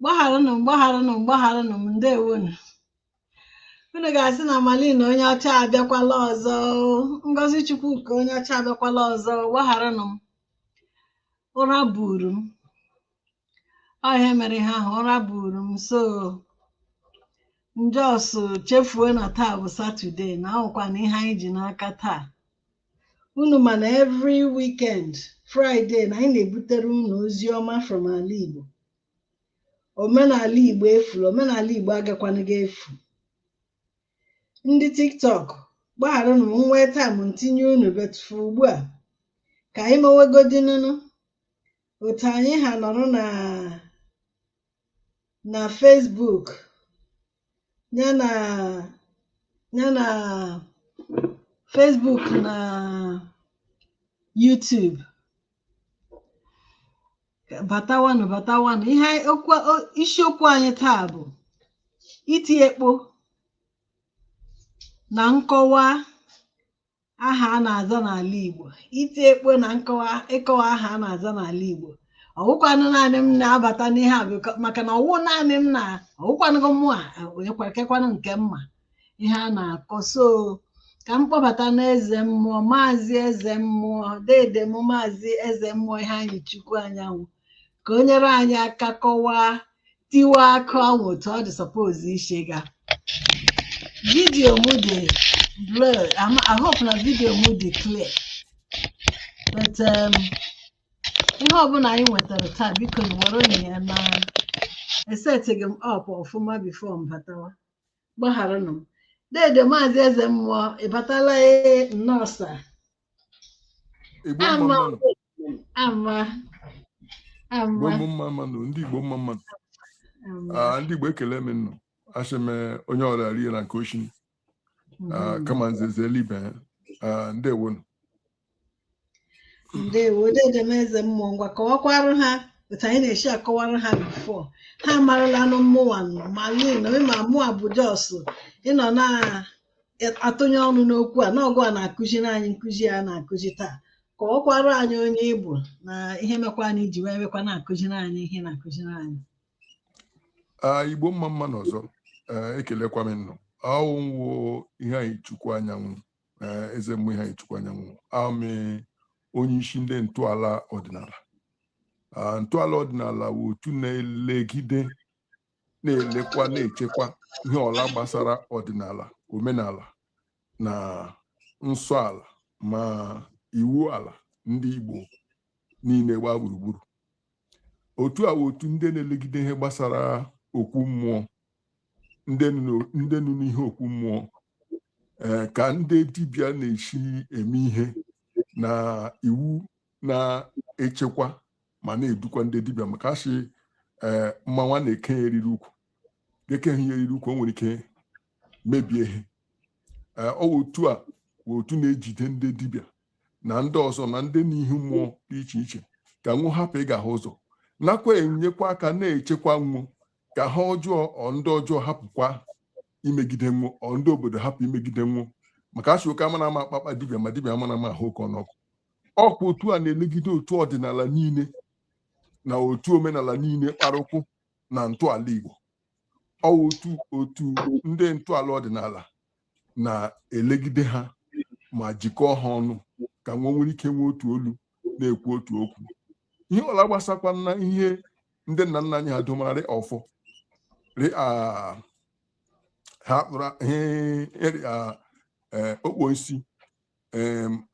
gbagharanụ m gbagharanụ m gbagharanụ m ndewonu unu ga-asị na Malina onye ọcha abịakwala ọzọ Ngozi Chukwuka onye ọcha abịakwala ọzọ gbagharanụ m ụra buru m ọ ihe mere ihe ahụ ụra buru m so m jọsụ chefuo na taa bụ satọde na ahụkwa na ihe anyị ji n'aka taa unu ma na every weekend Friday na anyị na-ebutere unu ozi ọma from ala Igbo omenala Igbo efula omenala Igbo agakwanụghị efu ndị tiktok gbagharanụ m nwee taịm m tinye unu but for ugbu a ka anyị mewegodinunu otu anyị ha nọrọ na na Facebook ya na ya na Facebook na YouTube batawanụ batawanụ ihe anyị- okwu o- isiokwu anyị taa bụ iti ekpo na nkọwa aha a na-aza n'ala Igbo iti ekpo na nkọwa ịkọwa aha a na-aza n'ala Igbo ọwụkwanụ naanị m na-abata n'ihe a biko maka na ọwụ naanị m na ọwụkwanụghị mụwa ekwekekwanụ nke mma ihe a na-akọ so ka m kpọbatanụ eze mmụọ maazị eze mmụọ dede m maazị eze mmụọ Iheanyịchukwu Anyanwụ ka o nyere anyị aka kọwaa tiwa akụ ahụ otu ọ dị sọpoz isi ga vidiyo m dị blur Am- I hope na vidiyo m dị clear but um, ihe ọbụla anyị nwetara taa biko werenụ ya na esetịghị m up ọfụma bifo m batawa gbagharanụ m dede maazị eze mmụọ ị batala ee nnọọ sa Igbo mma ama mmanụ. ama Igbo ama mma mmanụ. Ndị Igbo mma mmanụ. ama Ah, ndị Igbo ekele m unu. Asị m eh, onye ọla rienụ nke o chiri. Ah, kama nze zere ibe. Ah, ndewonu. ndewo dede m eze mmụọ ngwa kọwakwarụ ha otu anyị na-esi akọwara ha bifo ha maralanụ mụwa Malina ma mụwa bụ jos ịnọ na-atụnye ọnụ n'okwu a na ọ gịwa na-akụziri anyị nkụzi a na-akụzi taa kọwakwara anyị onye ị bụ na ihe mekwanụ i ji weekwa na-akụziri anyị ihe ị na-akụziri anyị Ah, igbo mma mma nụ ọzọ Eh, ekelekwa m unu aha m wụ Iheanyịchukwu Anyanwụ eh, eze mmụọ Iheanyịchukwu Anyanwụ awụ m onye isi ndị ntọala ọdịnala Ah, ntọala ọdịnala bụ otu na-elegide na-elekwa na-echekwa ihe ọla gbasara ọdịnala omenala na nsọ ala ma iwu ala ndị Igbo niile gbaa gburugburu otu a wụ otu ndị na-elegide ihe gbasara okwu mmụọ ndị nọ n'ihe okwu mmụọ eh, ka ndị dibịa na-esi eme ihe na iwu na-echekwa ma na-edukwa ndị dibịa maka a sị eh, mmanwụ na-eke ya eriri ukwu ga ekeghị ya eriri ukwu o nwere ike mebie ihe eh, ọ wụ otu a wụ otu na-ejide ndị dibịa na ndị ọzọ na ndị n'ihe mmụọ dị iche iche ka nwo hapụ ịgaha ụzọ nakwa enyekwa aka na-echekwa nwo ka ha ọjọọ ọ ndị ọjọọ hapụkwa imegide nwo ọ ndị obodo hapụ imegide nwo maka a sị oke amana ama akpa akpa dibịa ma dibịa amana ama ahụ oke n'ọkụ ọkwa otu a na-elegide otu ọdịnala niile na otu omenala niile kpara ụkwụ na ntọala Igbo ọ otu otu ndị ntọala ọdịnala na-elegide ha ma jikọọ ha ọnụ ka nwo nwere ike nwee otu olu na-ekwu otu okwu ihe ọla gbasakwa na ihe ndị nna nna anyị ha domara ọfọ rị a ha kpụrụ ihe ịrị a ee, okponsi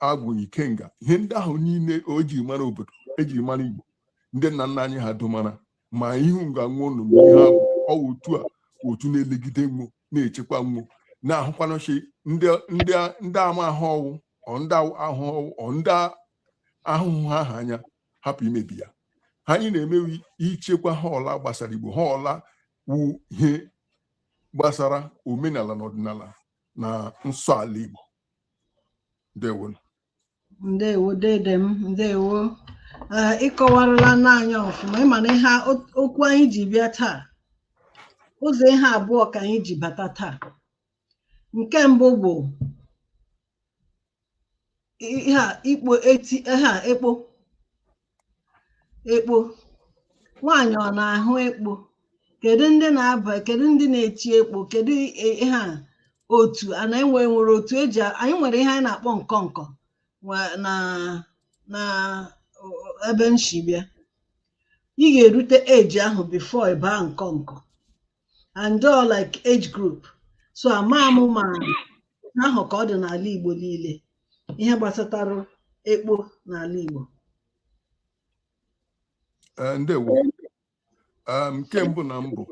agwụ ikenga ihe ndị ahụ niile ejiri mara obodo ejiri mara igbo ndị nna nna anyị ha domara ma ihu nga nwo nọ ihe ha bụ ọwụ otu a wụ otu na-elegide nwo na-echekwa nwo na-ahụkwanụ shị ndị amahụ ọwụ ndị ahụ ọwụ ndị ahụhụ ha ha anya hapụ imebi ya ha anyị na-eme wụ ichekwa ha ọla gbasara igbo ha ọla wu ihe gbasara omenala na ọdịnala na nsọ ala igbo ndewo ndewo dede m ndewo ee ị kọwarala anyị ọfụma ịma na ihe a- o- okwu anyị ji bịa taa ụzọ ihe abụọ ka anyị ji bata taa nke mbụ bụ ihe a ekpo eti ihe a ekpo ekpo nwaanyị ọ na-ahụ ekpo kedu ndị na-aba kedu ndị na-eti ekpo kedu i- ihe a otu a na enwe nwere otu eji a- anyị nwere ihe anyị na-akpọ ọkọnkọ nwa- na na o- ebe m shi bịa ị ga-erute age ahụ before ị baa ọkọnkọ and all like age group so ama m ma ahụ ka ọ dị n'ala Igbo niile ihe gbasatara ekpo n'ala Igbo eh, ndewo eh, nke mbụ na mbụ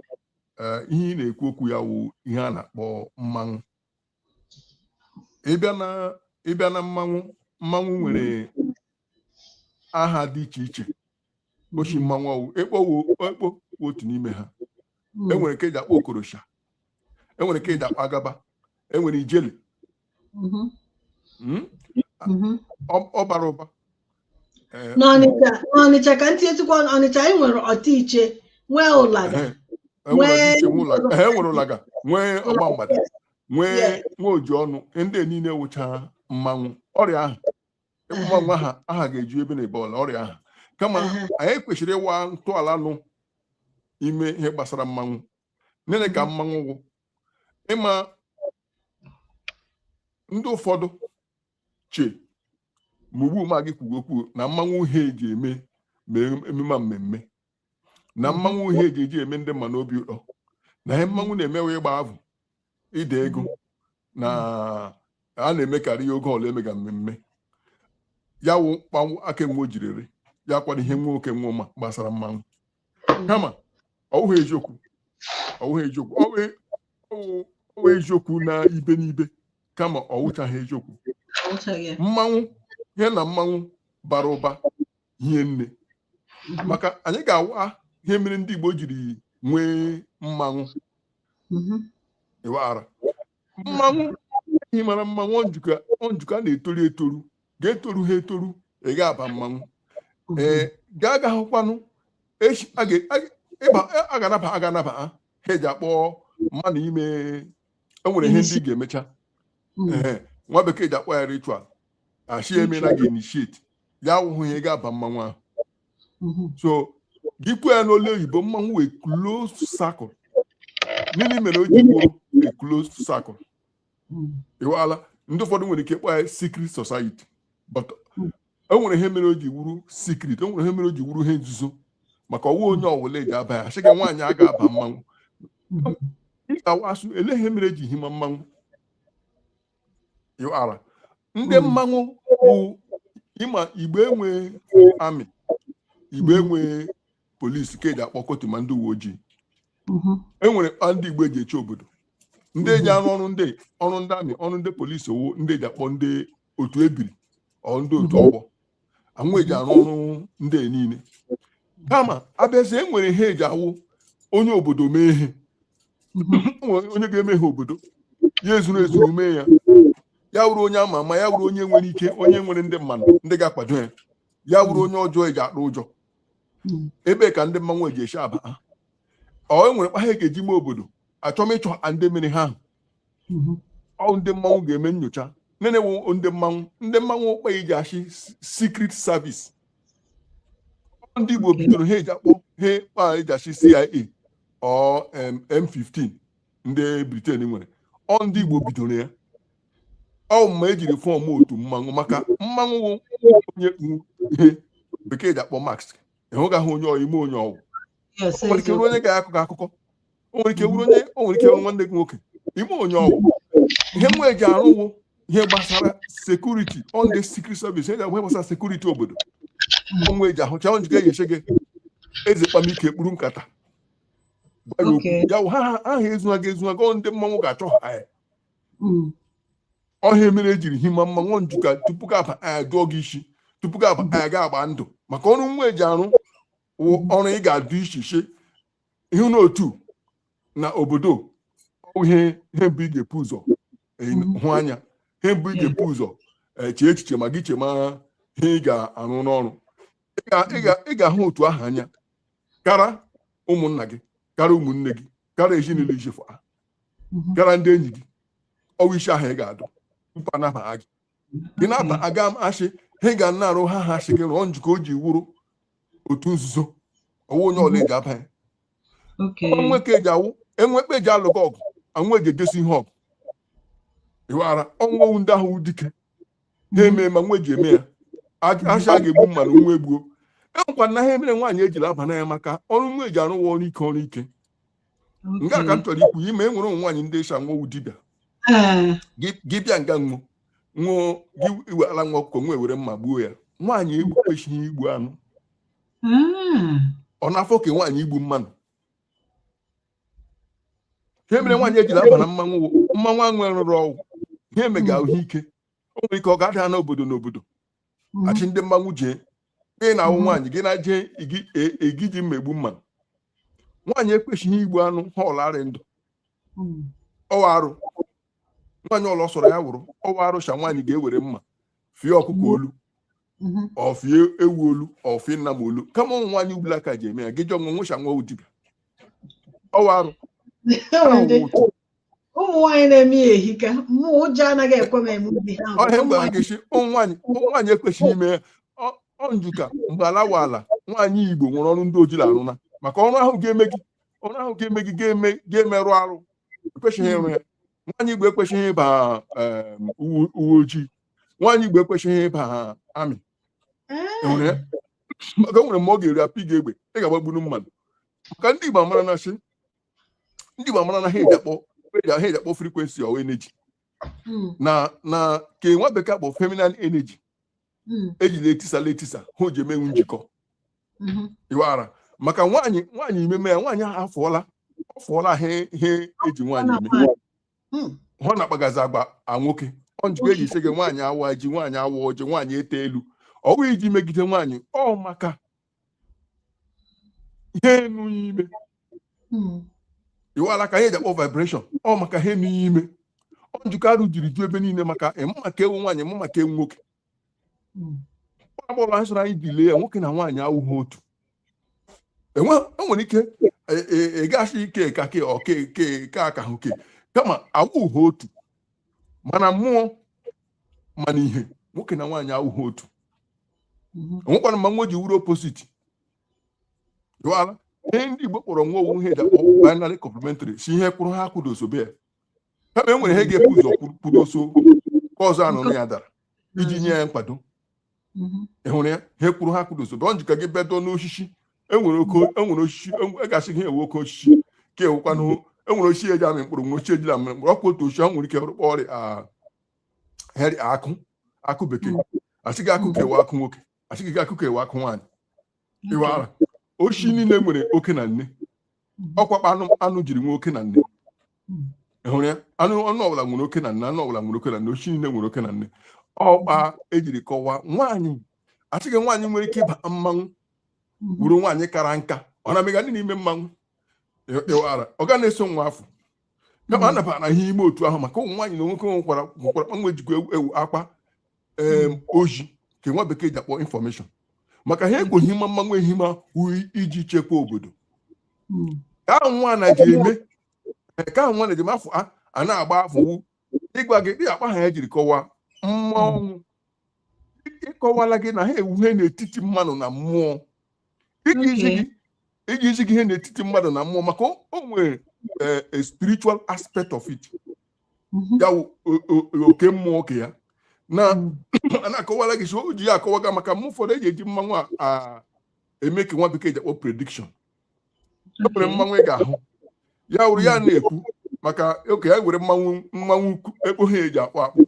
eh, ihe ị na-ekwu okwu ya wụ ihe a na-akpọ mmanwụ ịbịa na ịbịa na mmanwụ mmanwụ nwere aha dị iche iche ọ shị mmanwụ ọwụ ekpo wo- ekpo wụ otu n'ime ha Mm. enwere nke eji akpọ okorosha enwere nke eji akpọ agaba enwere ijele Mhm. mm? Mhm. ọ ọ bara ụba n'ọnịcha ka ntị etukwa ọnịcha anyị nwere otu iche nwee ụlaga nwee ụlaga nwee ọgba mgbada nwee nwa oji ọnụ ndị niile wụcha mmanwụ ọrịa ahụ ị kpọma nwa ha aha ga-eju ebe na ebe ọla ọrịa ahụ kama anyị kwesịrị ịwa ntọala nụ ime ihe gbasara mmanwụ nene ka mmanwụ wụ ị ma ndị ụfọdụ che ma ugbu mụ gị kwuga okwu na mmanwụ wụ ihe eji eme ma emume mmemme na mmanwụ wụ ihe eji eji eme ndị mmadụ obi ụtọ na ihe mmanwụ na-eme wụ ịgba avụ ide ego na a na-emekarị ya oge ọla emega mmemme ya wụ kpa nwoke nwa o jiri ya kọwara ihe nwoke nwa ma gbasara mmanwụ kama ọ wụghị eziokwu ọ wụghị eziokwu ọ wụ eziokwu na ibe n'ibe kama ọ wụchaghị eziokwu mmanwụ ihe na mmanwụ bara ụba hie nne mhm. maka anyị ga-awa ihe mere ndị Igbo jiri nwee mmanwụ mhm. ị wara mmanwụ e himara mmanwụ njikọ njikọ a na-etoru etoru gị etoruha etoru ị ga-aba mmanwụ ee gaa aga hụkwanụ echi a ga- a- ịba a ga-anaba a ga-anaba ha ha eji akpọ mmadụ ime e nwere ihe ndị ị ga-emecha Mm. Ehe, nwa bekee ji akpọ ya ritual a shị emela gị initiate ya awụhụ ihe ị ga-aba mmanwụ ahụ mm-hmm. so gị kwuo ya n'olu oyibo mmanwụ wụ a closed circle nini mere o ji wụrụ a closed circle mm. ị wala ndị ụfọdụ nwere ike ịkpọ ya secret society but mm. e nwere ihe mere o ji wụrụ secret e nwere ihe mere o ji wụrụ ihe nzuzo maka ọ wụha onye ọwụla eji aba ya a sịga nwaanyị a ga-aba mmanwụ mm-hmm. ịtawa so lee ihe mere eji hima mmanwụ ị wara ndị hmm. mmanwụ bụ ị ma igbo enwe army igbo hmm. enwe police ke eji akpọ kotuma ndị uwe ojii hmm. enwere kpa ndị igbo eji eche obodo ndị eji arụ ọrụ ndị ọrụ ndị army ọrụ ndị police ọ wụ ndị eji akpọ ndị otu ebiri or ndị otu ọgbọ ha nwa eji arụ ọrụ ndị a niile kama a bịazi enwere ihe eji awụ onye obodo mee ihe onye ga-eme ha obodo ya ezuru ezuru mee ya ya wụrụ onye ama ama ya wụrụ onye nwere ike onye nwere ndị mmadụ ndị ga-akwado ya ya wụrụ onye ọjọọ eji atụ ụjọ ebe ka ndị mmanwụ eji eshi aba ha or enwere kpa ha ga-eji mee obodo achọm ịchọ ndị mere ihe ahụ mhm. ọ ndị mmanwụ ga-eme nyocha nenewu ndị mmanwụ ndị mmanwụ wụ kpa eji ashị secret service ndị Igbo bidoro ha eji akpọ ha kpa eji ashị CIA or MI5 ndị Britain nwere ọ ndị Igbo bidoro ya ọ mma ejiri form otu mmanwụ maka mmanwụ onye ihe bekee ji akpọ mask ịhụgaghị onye ị ma onye ọ wụ o nwere ike wụrụ onye ga-akọ gị akụkọ o nwere ike wụrụ onye o nwere ike wụrụ nwanne gị nwoke ị ma onye ọ wụ ihe nwa eji arụ wụ ihe gbasara security on the secret service ihe gbasara security obodo onwe eji ahụcha onye ga-enyeshe gị eze kpamike kpuru nkata ya ha aha ezuha gị ezuha gị ndị mmanwụ ga-achọha ya hmm. ọ ihe a mere ejiri hima mmanwụ njuka tupu gị aba aya dụọ gị isi tupu gị aba aya ga-agba ndụ maka ọrụ nwa eji arụ wụ ọrụ ị ga-adụ ishi shị ihe n'otu na obodo wụ ihe mbụ ị ga-epu ụzọ eh, hụ anya ihe mbụ ị ga-epu ụzọ eh, chee echiche ma gị chema ihe ị ga-arụ n'ọrụ Ị ga- ị ga- ị ga-ahụ otu ahụ anya kara ụmụnna gị kara ụmụnne gị kara ezinụlọ i shi fụha kara ndị enyi gị ọ wụ ishi ahụ ị ga-adụ tupu anabaha gị gị na-ata aga m ashị ha ga na-arụ ha ha shị gị rụọ njikọ o ji wụrụ otu nzuzo ọ wụ onye ọla eji aba ya Okay. o nwe ka eji awụ e nwe kpa eji alụkọ ọgụ anwụ eji edosi ihe ọgụ ịwara ọnwụwụ ndị ahụ dike na-eme ma nwa eji eme ya a shị a ga-egbu mmadụ nwa egbuo enwekwa na ha emere nwaanyị ejila aba na ya maka ọrụ nwa eji arụ wụ ọrụ ike ọrụ ike nke a ka m chọrọ ikwu ị ma e nwere ụmụ nwaanyị ndị shị nwo wụ dibịa gị bịa nga nwụ nwụọ gị iweala nwa ọkụkọ nwa ewere mma gbuo ya nwaanyị ekwesịghị igbu anụ hmm. ọ na-afọ ka nwaanyị igbu mmanụ ihe mere nwaanyị ejila aba na mmanwụ mmanwụ anwụ rụrụ ọ wụ ihe mega ahụ ike o nwere ike ọ ga-ada n'obodo n'obodo mhm. a shị ndị mmanwụ jee gị na ahụ mhm. nwaanyị gị na jee igi ji mma egbu mma nwaanyị ekweshịghị igbu anụ ha ọla rị ndụ mhm. ọ wụ arụ nwaanyị ọla ọ sọrọ ya wụrụ ọ wụ arụ shị nwaanyị ga-ewere mma fie ọkụkọ olu ọ fie ewu olu ọ fie nnama olu kama ụmụ nwaanyị ugbula ka ji eme ya gị jụọ nwa nwa ashị nwa wụ dibịa ọ wụ arụ ụmụ nwaanyị na-eme ya ehika mụ ụjọ anaghị ekwe m eme ụdị ha ọ ihe a m gwara gị sị ụmụ nwaanyị ụmụ nwaanyị ekwesịghị ime ya Ọ- ọ njuka mgbe ala wụ ala nwaanyị igbo nwere ọrụ ndị o jila arụ na maka ọrụ ahụ ga-eme gị ọrụ ahụ ga-eme gị ga-eme ga-emerụ arụ ekwesịghị ịrụ ya nwaanyị igbo ekwesịghị ịba em, uwe uwe ojii nwaanyị igbo ekwesịghị ịba army enwere ya maka o nwere mgbe ọ ga-eru apị gị egbe ị ga-agbagburu mmadụ maka ndị igbo maara na sị ndị Igbo amara na ha eji akpọ ha eji akpọ frequency or energy hmm. na na ka nwa bekee akpọ feminine energy hmm. ejila etisala etisa ha ji emenwu njikọ hmm. iwara maka nwaanyị nwaanyị imeme ya nwaanyị ahụ afọọla ọ fọọla ha ihe eji nwaanyị eme ọ na-akpagazi agwa nwoke ọ njikọ eji ịsị gị nwaanyị awa ji nwaanyị awa ọjị nwaanyị ete elu ọ bụghị iji megide nwaanyị ọ maka ihe enu ime hmm. iwala ka ihe ji akpọ vibration ọ maka ihe enu ime ọ njikọ arụ jiri ju ebe niile maka ịmụ ma ka wụ nwaanyị mụ ma ka wụ nwoke hmm. ọ agbọrọ anyị sọrọ anyị dile ya nwoke na nwaanyị awụghị otu enwere e ike ị ga-asị e, e, ike ka ke ọke ke ka aka hụ ke kama awụghị otu ma na mmụọ ma na ihe nwoke na nwaanyị awụghị otu mhm. onwekwara mma nwa ji wụrụ opposite dụala ihe ndị Igbo kpọrọ nwa ọ wụ ihe ji akpọ binary complementary sị ihe kwụrụ ihe akwụdosobe ya kama e nwere ihe ga-ebu ụzọ kwụdoso ka ọzọ anọrọ ya dara iji nye ya nkwado mhm. ị hụrụ ya ihe kwụrụ ihe akwụdosobe ọ njikọ gị bedo n'osisi enwere e osisi a ga-asị gị ọ wụ oke osisi ka a wụkwanụ enwere osisi eji amị mkpụrụ nwee oshi ejila amị mkpụrụ ọkwa otu osisi ọ nwere ike rụkpọ ọrịa heri akụ akụ bekee asị gị akụ ka a wụ akụ nwoke asị gị akụ ka a wụ akụ nwaanyị ịwara oshi niile nwere oke na nne ọkwa kpa anụ anụ jiri nwee oke na nne Ị hụrụ ya anụ anụ ọbụla nwere oke na nne anụ ọbụla nwere oke na nne oshi niile nwere oke na nne ọ kpa ejiri kọwaa nwaanyị asị gị nwaanyị nwere ike ịba mmanwụ bụrụ nwaanyị kara nka ọ na-amaga ihe dị n'ime mmanwụ ịwara ọ ga na-eso nwa afụ kama a nabara ihe ime otu ahụ maka ụmụ nwaanyị na nwoke nwekwara nwekwara kpa nwa jikwa ewu ewu akpa em, ozi ka nwa bekee ji akpọ information maka ha ekweghị mma mmanwụ ehi ma uyi iji chekwa obodo ka ahụ nwa na-eji eme ka ahụ nwa na-eji eme afa a na-agba afa wụ ịgwa gị dị akpa ha ya jiri kọwaa mma hmm. ọnwụ ịkọwala gị na ha wụ ihe n'etiti mmadụ na mmụọ iji izi gị ihe n'etiti mmadụ na mmụọ maka o nwere eh, a spiritual aspect of it mm-hmm. ya wụ oke mmụọ oke ya na hmm. na-akọwala gị sị o ji ya akọwaga maka mma ụfọdụ eji eji mmanwụ a eme ka nwa bekee ji akpọ prediction e nwere mmanwụ ị ga-ahụ ya wụrụ ya na-ekwu maka oke ya nwere mmanwụ mmanwụ ukwu ekpo ha eji akpọ akpọ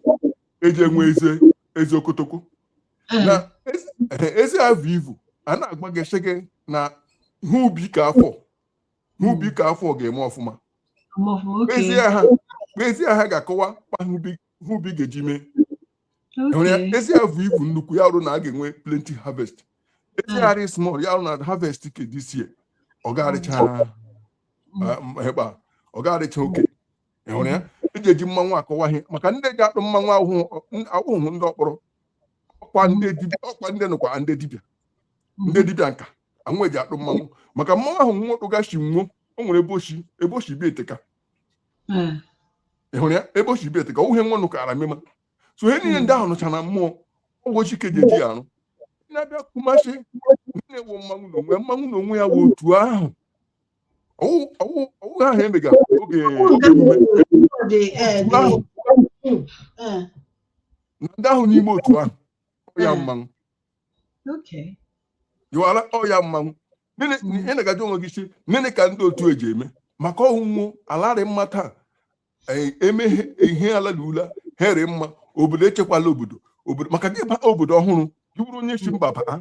eji enwe ezi ezi okotoko na ezi- ezi avụ ivu a na-agwa gị sị gị na ihe ubi ka afọ ihe ubi ka afọ ga-eme ọfụma Ọmụfụ, okay. na ezi ahụ na ezi ahụ ga-akọwa kpa ihe ubi- ihe ubi ga-eji mee ezi a vu ivu nnukwu ya rụ na a ga-enwe plenty harvest ezi harị small ya rụ na harvest ke this year ọ ga-arịcha ebe a ọ ga-arịcha okay ị hụrụ ya eji eji mmanwụ akọwa ihe maka ndị ji akpụ mmanwụ ahụ wụ ndị ọkpọrọ ọkwa ndị nụkwa ndị dibịa ndị dibịa nka anwụ eji akpụ mmanwụ maka mmanwụ ahụ nwa wụgasị nwo o nwere ebe o si ebe o si bịa eteka ị hụrụ ya ebe o si bịa eteka ọ wụ ihe nwa nụkara mmema so ihe niile ndị ahụ nọcha na mmụọ ụbọchị Ikeji eji ya arụ na-abịa kumasị na-ewu mmanwụ na onwe mmanwụ na onwe ya wụ otu ahụ ọwụ ahụ emega oge emume na ndị ahụ n'ime otu ahụ ya mmanwụ Okay. Yọwara ọya mmanwụ ị na-agaji onwe gị si nene ka ndị otu eji eme maka ọnwụnwụ alarị mma taa e, emeghe ihe ala na ula here mma obodo echekwala obodo maka gị baa obodo ọhụrụ gị bụrụ onye si mba baa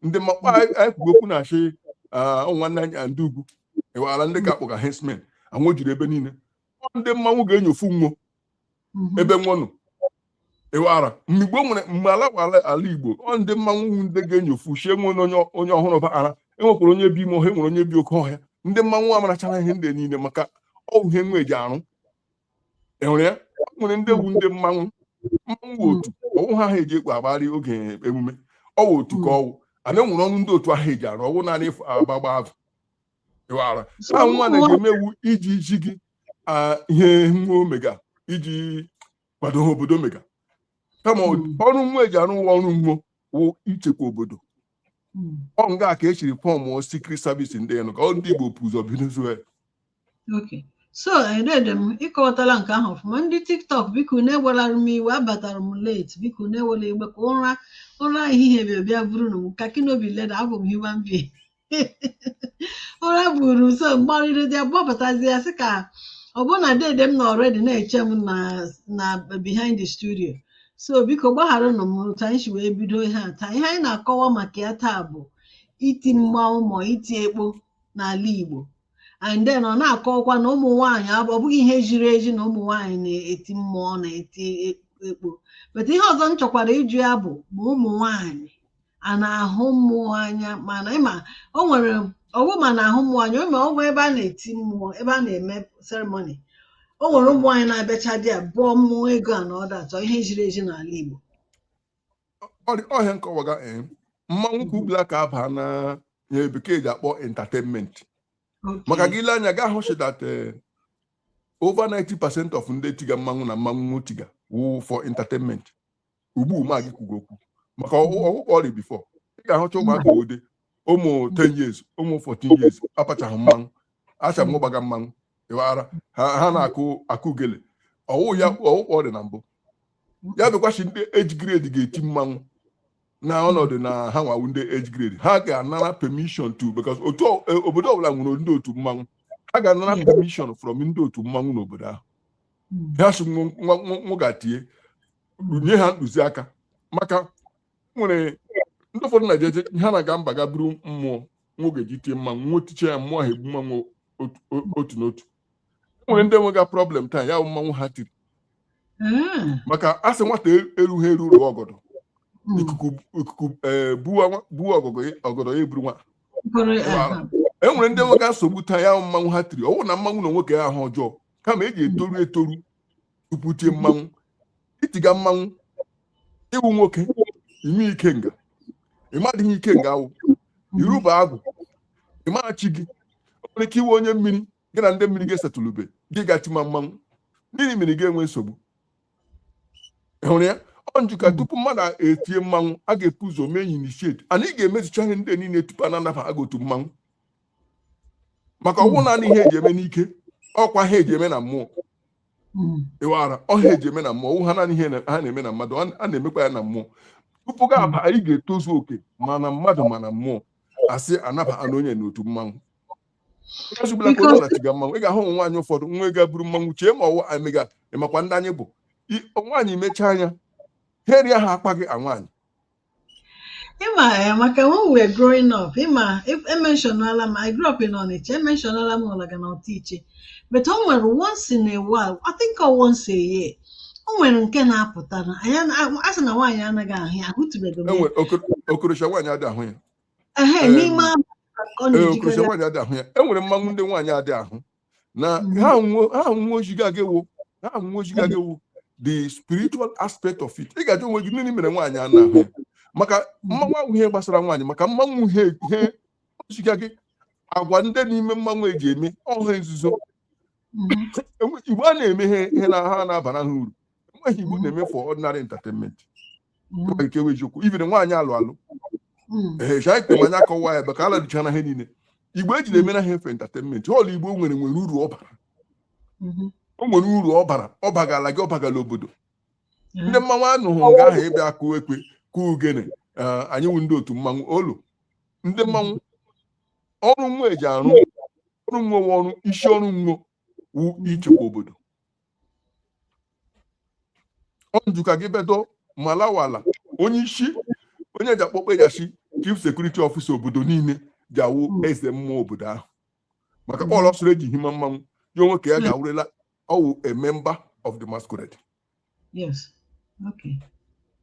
ndị mmakpa anyị kwugo okwu na-achị nwanne anyị ndị ugwu ị wara ndị ga-akpọga herdsmen anwụ jiri ebe niile ndị mmanwụ ga-enyofu nwo mhm. ebe nwo nọ ị wara mgbe nwere mgbe ala wụ ala Igbo ọ ndị mmanwụ wụ ndị ga-enyofu sị e nwee onye ọhụrụ baara enwekwara onye bi ime ọhịa nwere onye bi oke ọhịa ndị mmanwụ amarachara ihe ndị niile maka ọ wụ ihe nwo eji arụ enwere ya nwere ndị egwu ndị mmanwụ mmanwụ otu ọwụ ha ha eji ekpu agbarị oge emume ọwụ otu ka ọwụ ana enwere ọrụ ndị otu ahụ eji arụ ọwụ naanị agba agba azụ ị wara a nwa na ga-eme iwu iji iji gị ah, ihe nwo mega iji kwado ha obodo mega kama hmm. ọrụ nwo eji arụ ụwa ọrụ nwo wụ ichekwa obodo hmm. ọ nga ka e siri form secret service ndị nụ ka ọ ndị Igbo bu ụzọ bidozie so dede m ị kọwatala nke ahụ ọfụma ndị tiktok bikonụ ewelara m iwe abatara m late bikonụ ewela iwe ka ụra ụra ehihie bịa bịa buru m kakinobi leda abụ m human being ụra buru m so m gbarịrị dị gbapụtazi ya sị ka ọ bụ na dede m nọ already na-eche m na behind the studio so biko gbagharanụ m otu anyị si wee bido ihe a taa ihe anyị na-akọwa maka ya taa bụ iti mmanwụ ma iti ekpo n'ala Igbo and then ọ na-akọwakwa na ụmụ nwaanyị ọ bụghị ihe jiri eji na ụmụ nwaanyị na-eti mmụọ na-eti ekpo but ihe ọzọ m chọkwara ịjụ ya bụ ma ụmụ nwaanyị a na-ahụ mmụọ anya mana ịma o nwere ọ wụ ma na-ahụ mmụọ anya ma ọ bụ ebe a na-eti mmụọ ebe a na-eme seremoni o nwere ụmụ nwaanyị na-abịacha dị ya bụọ mmụọ ego a na ọ datọ ihe jiri eji n'ala Igbo ọ ihe a m kọwaga eh, mmanwụ ka ugbula ka aba na ihe bekee ji akpọ entertainment maka gị lee anya ị ga-ahụ sị that eh, over 90 percent of ndị tiga mmanwụ na mmanwụ tiga wụ for entertainment ugbu mụ na gị kwuga okwu maka ọ wụ ikpori before ị ga-ahụcha ụmụaka ode ụmụ 10 years ụmụ 14 years apachaghị mmanwụ acha m gbaga mmanwụ ịwara ha na-akụ ogele ọ wụ ikpori na mbụ ya bịakwachi ndị age grade ga-eti mmanwụ na ọnọdụ na ha nwa wụ ndị age grade ha ga-anara permission to because otu e, obodo ọbụla nwere ndị otu mmanwụ ha ga-anara permission from ndị otu mmanwụ n'obodo ahụ hmm. ha sị nwa ga-eti e nye ha ntụziaka maka e nwere ndị ụfọdụ na-eje ha na-aga mba gaa buru mmụọ nwa ga-eji tie mmanwụ nwa tichaa ya mmụọ ahụ egbuma nwa otu n'otu e nwere ndị nwega problem taa ya bụ mmanwụ ha tiri hmm. maka asị nwata e, eruha eru rụọ ọgọdọ hmm. ikuku e, buo ọgọdọ ya eburu nwa e nwere ndị nwega nsogbu taa ya mmanwụ ha tiri ọ wụghị na mmanwụ n'onwe ke ya wụ ihe ọjọọ kama ị ga-etoru etoru tupu i tie mmanwụ i tiga mmanwụ ị wụ nwoke ime ikenga ị madịghị ihe ikenga wụ i rube agwụ ị maghị chi gị o nwere ike ị wụ onye mmiri gị na ndị mmiri gị esettlebe gị gaa tima mmanwụ mmiri mmiri ga-enwe nsogbu ị hụrụ ya ọ m ji ka tupu mmadụ etie mmanwụ a ga-ebu ụzọ mee initiate na ị ga-emezicha ihe ndị niile tupu a na-anaba gị n'otu mmanwụ maka ọ wụghị naanị ihe eji eme n'ike ọ kwa ihe eji eme na mmụọ hmm. ịwara ọ ihe eji eme na mmụọ ọ wụha naanị ihe a na-eme na mmadụ a na-emekwa ya na mmụọ tupu gị aba ya ị ga-etozu oke ma na mmadụ ma na mmụọ asị anaba na onye n'otu mmanwụ ezubela ka onye na-etiga mmanwụ ị ga-ahụ ụmụ nwaanyị ụfọdụ nwa ga-eburu mmanwụ chee ma ọ wụ ihe a mega ịmakwa ndị anyị bụ nwaanyị mechaa anya ha erie ha akpa gị a nwaanyị ịma eh, maka when we were growing up ịma ementionala m I grew up in Onitsha ementionala m Ụlaga na Otu Iche but o nwere once in a while I think ọ once a year o nwere nke na-apụta na anyị ana- a sị na nwaanyị anaghị ahụ ya ahụtụbeghị m ya e nwe okorosha nwaanyị adị ahụ ya ehe Em, n'ime ahụ ka ọ ee okorosha na-ejikere nwaanyị adị ahụ ya enwere mmanwụ ndị nwaanyị adị ahụ na ihe ahụ o ziga gị wụ ihe ahụ o ziga gị wụ the spiritual aspect of it ị ga-ajụ onwe gị nịnị mere nwaanyị a na-ahụ maka mmanwụ awụ ihe gbasara nwaanyị maka mmanwụ ihe ihe o ziga gị agwa ndị n'ime mmanwụ eji eme ọ ihe nzuzo Igbo a na-eme ihe na ha na-abara ha uru enweghị ihe Igbo na-eme for ordinary entertainment nwere ike nwe eziokwu ibiri nwaanyị alụ alụ ee chai kpem anya kọwa ya ebe ka ala dịchara ihe niile Igbo eji na-eme na ha efe entertainment ihe ọla Igbo nwere nwere uru ọ bara o nwere uru ọ bara ọ bagala gị ọ bagala obodo ndị mmanwụ anụghị nga ahụ ebe akụ ekwe kụ ugene ee, anyị wụ ndị otu mmanwụ olu ndị mmanwụ ọrụ nwa eji arụ ọrụ nwa wụ ọrụ isi ọrụ nwa wụ ichekwa obodo onjuka gị bedo malawala onye isi onye ji akpọkpọ eji asị chief security officer obodo niile ji awụ hmm. eze mmụọ obodo ahụ maka hmm. ọlọ soro eji hima mmanwụ ya onwe ka ya hmm. ga-awụrela ọ wụ a member of the masquerade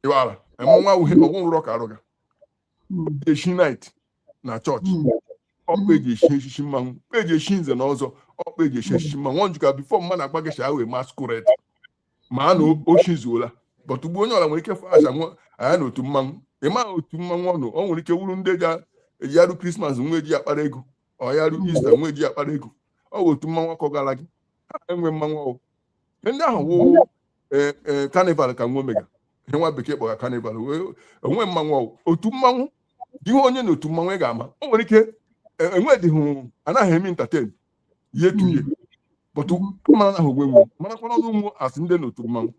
ịwara emenwa awụghị ọgwụ nrọ ka arụ ga echi knight na church ọ kpa eji echi echichi mmanwụ ọ kpa eji echi nze na ọzọ ọ kpa eji echi echichi mmanwụ ọ njụka before mmadụ akpa gị shaa wee masquerade mara na o chizuola but ugbu onye ọla nwere ike fọ aja nwa anya na otu mmanwụ ị maghị otu mmanwụ ọ nọ o nwere ike wuru ndị ga eji arụ Christmas nwa eji akpara ego ọ ya arụ Easter nwa eji akpara ego ọ bụ otu mmanwụ akọ gara gị ha enwe mmanwụ ọ wụ ndị ahụ wụ eh, eh, carnival ka nwa mega ihe nwa bekee kpọga carnival wee- o nweghị mmanwụ ọ wụ. otu mmanwụ ị hụ onye na otu mmanwụ ị ga-ama o nwere ike eh, enwedịghị anaghị eme entertain ihe tuye but mara na ahụ ogwe nwa marakwana ọrụ nwa asị ndị na otu mmanwụ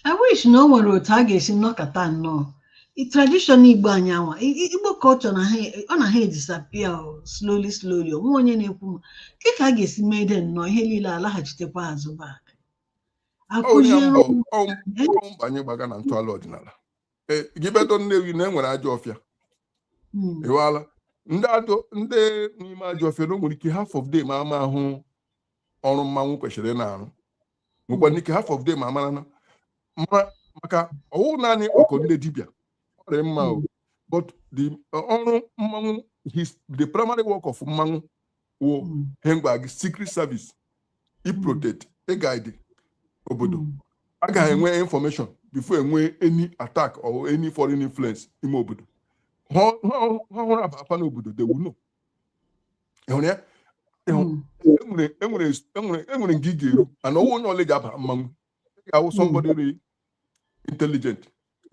I wish na o nwere otu a ga-esi nọkọta nnọọ I- tradition Igbo anyị nwa I- I- Igbo culture na ha ọ na ha edisapia slowly slowly o nwe onye na-ekwu m ke ka a ga-esi mee dị nnọọ ihe niile alaghachitekwa azụ back ọ ihe akụziere mbọ ụmụ ọ mbọ anyị gbaga na ntọala ọdịnala e, gị bedo Nnewi na enwere ajọ ọfịa hmm. ịwala ndị ajọ ndị n'ime ajọ ọfịa na o nwere ike half of them amaghị ọrụ mmanwụ kwesịrị na-arụ nwekwanụ ike half of them amara na maka ọ wụ naanị ọkụ ndị dibịa ọrịa mma o hmm. but the ọrụ mmanwụ the primary work of mmanwụ wụ mm. ihe m gwa gị secret service iprotect mm. iguide obodo mm. agaghị enwe information before enwe any attack or any foreign influence ime obodo ihe ọhụrụ aba afa n'obodo they will know ịhụrụ ya enwere e e e nga ị ga-eru ana ọ wụghị onye ọla ji aba mmanwụ ị ga-awụ somebody really intelligent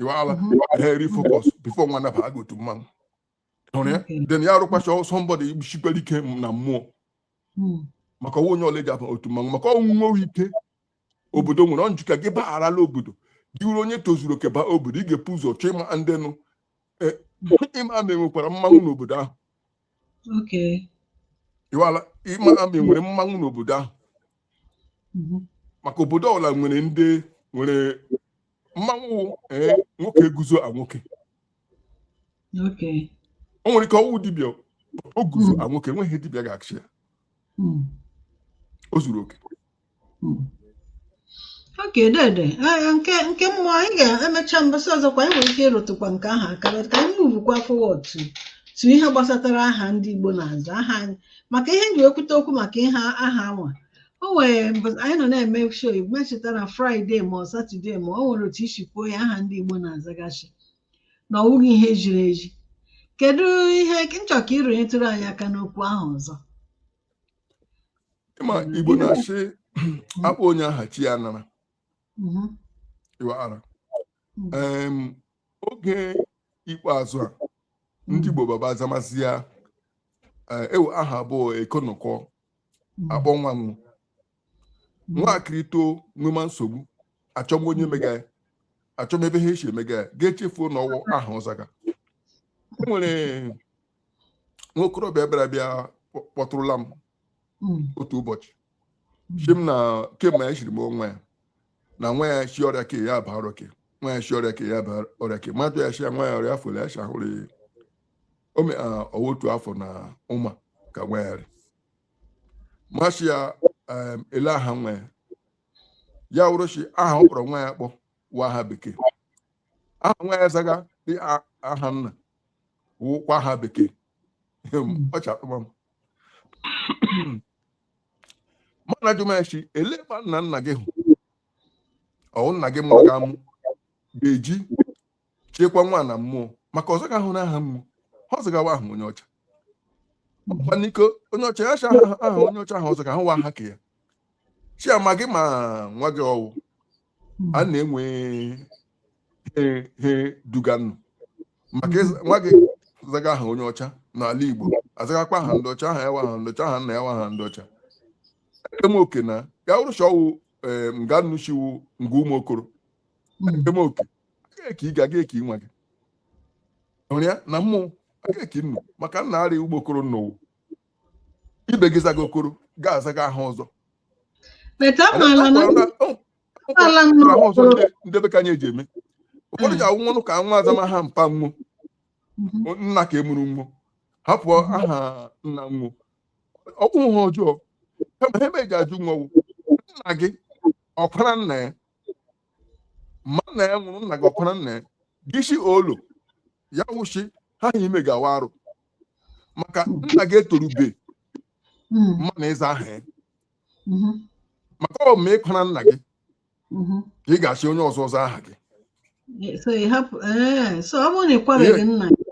iwaala really focus before nwa anaba gị otu mmanwụ hụrụ ya then ya arụkwacha somebody shikwara ike na mmụọ hmm. maka ọwụ onye ọla ji aba otu mmanwụ maka ọwụ nwa ike obodo nwere ọ njika gị bagharala obodo gị wụrụ onye tozuru oke baa obodo ị ga-epu ụzọ chọọ ịma ndị nụ e, ịma ma e nwekwara mmanwụ n'obodo ahụ ịwala ịma ma e nwere mmanwụ n'obodo ahụ mhm. maka obodo ọbụla nwere ndị nwere mmanwụ ee eh, nwoke guzo a nwoke o nwere ike ọwụ dibịa o guzo hmm. a nwoke enweghị dibịa ga-achị ya hmm. o zuru oke hmm. okay dede eh, nke nke mmụọ anyị ga-emecha mbọsị ọzọ kwa anyị nwere ike ịrụtụkwa nke ahụ aka ka anyị muvukwa forward to to ihe gbasatara aha ndị Igbo na-aza aha anyị maka ihe m ji ekwute okwu maka ihe aha anwa o nwere mgbe anyị nọ na-eme show m echeta na Friday ma ọ Saturday ma o nwere otu i si kwuo ya aha ndị igbo na-azaga shi na ọ wụghị ihe ziri ezi kedu ihe m chọ ka ị rụnyetụrụ anyị aka n'okwu ahụ ọzọ ị ma igbo na-asị a kpọọ onye aha chi ya nara Mhm, iwara Mm. Em, oge ikpeazụ a ndị igbo baba azamazi ya eh, ewe aha abụọ ekonụkọ hmm. akpọ nwa m hmm. nwaakịrị too nwema nsogbu achọma onye mega ya achọma ebe ha esi emega ya ga-echefuo na ọwụ aha ọ zaga e nwere nwokorobịa bịara bịa kpọtụrụla m hmm. otu ụbọchị shi m na kemgbe ya shiri mụọ nwa ya na nwa ya shi ọrịa ke ya baa ọrịa ke nwa ya shi ọrịa ke ya baa ọrịa ke mmadụ ya shi nwa ya ọrịa afọ ya shi ahụrụ ya ọwụ otu afọ na ụma ka nwa ya rị m ashị ya ele aha nwa ya ya wụrụ shi aha ọ kpọrọ nwa ya kpọ wa aha bekee aha nwa ya zaga dị aha nna wụkwa aha bekee ọcha akpụma m m ana ajụma shi ele ma nna nna gị hụ ọwụ nna gị mụrụ gị ka mụ ga-eji chekwa nwa na mmụọ maka ọ zagahụ na aha mmụọ aha ọ zaga wa aha onye ọcha ọkwa n'iko onye ọcha ya cha aha aha onye ọcha ahụ ọ zaga ahụ wa aha ka ya shi ama gị ma nwa gị ọwụ a na-enwe he he duganụ maka ịza- nwa gị zaga aha onye ọcha n'ala igbo azagakwa aha ndị ọcha aha ya wa aha ndị ọcha aha nna ya wa aha ndị ọcha ekema oke na ya wụrụ shi ọwụ nga nnu shi wụ nga ụmụ okoro ekema oke eke ị ga-aga eke nwa gị hụrụ ya na mmụọ aga eke nnu maka nna arị ugbo okoro nnowu ibe gị zaga okoro ga-azaga aha ọzọ ọzọ ndị be ka anyị eji eme ụfọdụ ji awụ nwanụ ka nwa azama aha mpa nwo nna ka emuru nwo hapụ aha nna nwo ọkwụ ha ọjọọ kama ha ebe eji ajụ nwo wụ nna gị ọ kwara nna ya ma nna ya nwụrụ nna gị ọ kwara nna ya gịshi olu ya wụchi ha na ime gawa arụ maka nna gị etorube hmm. mma na ịza aha ya mm-hmm. maka ọ ma ị kwara nna gị mm-hmm. ka ị ga-achị onye ọzọ ọzọ aha gị eh, eh, ọ bụrụ na ị kwabeghị nna gị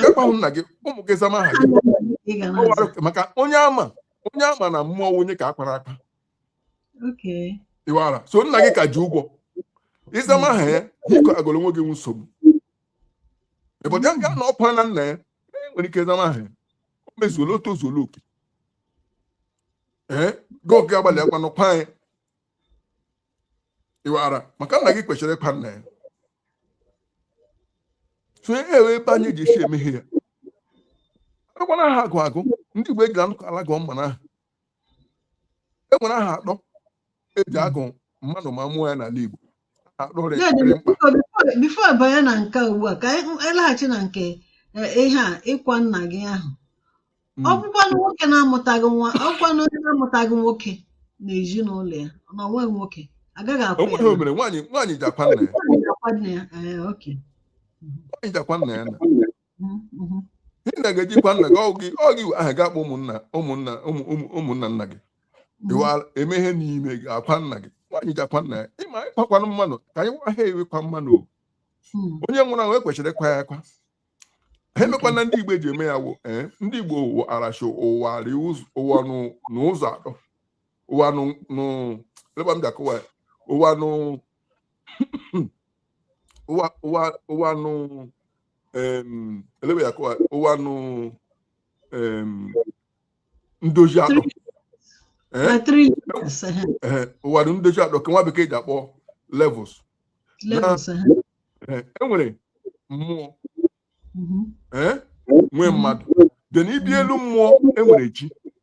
ị kwahụ nna gị ụmụ gị zama aha gị maka onye ama onye ama na mmụọ onye ka akwara akwa ịwara so nna gị ka ji ụgwọ ịzama aha ya biko agọrọ onwe gị nsogbu ịbọdụ ya na ọ kwana nna ya e nwere ike ịzama aha ya o mezuola o tozuola oke ee gị oge agbalị akwa n'ụkwa anyị ịwara maka nna gị kwesịrị ịkwa nna ya so e ewe ebe anyị ji esi emeghe ya agwana aha agụ agụ ndị Igbo ejila anụ ala gụọ mmanụ aha e nwere aha atọ eji agụ mmadụ ma mụọ ya n'ala Igbo aha atọ dị Dede, dị mkpa biko, before- before ị banye na nke a ugbu a ka anyị anyị laghachi na nke eh, ihe a ịkwa nna gị ahụ ọ Mm. bụkwanụ nwoke na-amụtaghị nwa ọ bụkwanụ onye na-amụtaghị nwoke n'ezinụlọ ya na onwe nwoke agaghị o akwa ya nweghị o mere nwaanyị nwaanyị ji akwa nna ya na akwa nne ya ee okay nwaanyị ji akwa nna ya na nna ga-eji kwa nna gị ọ gị aha ga-akpọ ụmụnna ụmụnna ụmụnna nna gị eme ihe n'ime gị akwa nna gị nwaanyị ji akwa nna ya ịma ịkwakwanụ mmanụ ka anyị nwa ha ewekwa mmanụ hmm. onye nwụrụ anwụ e kwesịrị ịkwa ya akwa ha emekwana ndị igbo eji eme ya wụ eh, ndị igbo wara shị ụwa ụwa n'ụzọ atọ ụwa n'ụleba m ji akọwa ụwa n'ụwa ụwa um, elebe ya akọwa ụwa nọ um, ndozi atọ Eh? na three levels eh, Eh, ụwa nọ ndozi atọ ka nwa bekee ji akpọ levels levels eh, Eh, e nwere mmụọ mhm, eh, nwee mmadụ then ị bịa elu mmụọ e nwere chi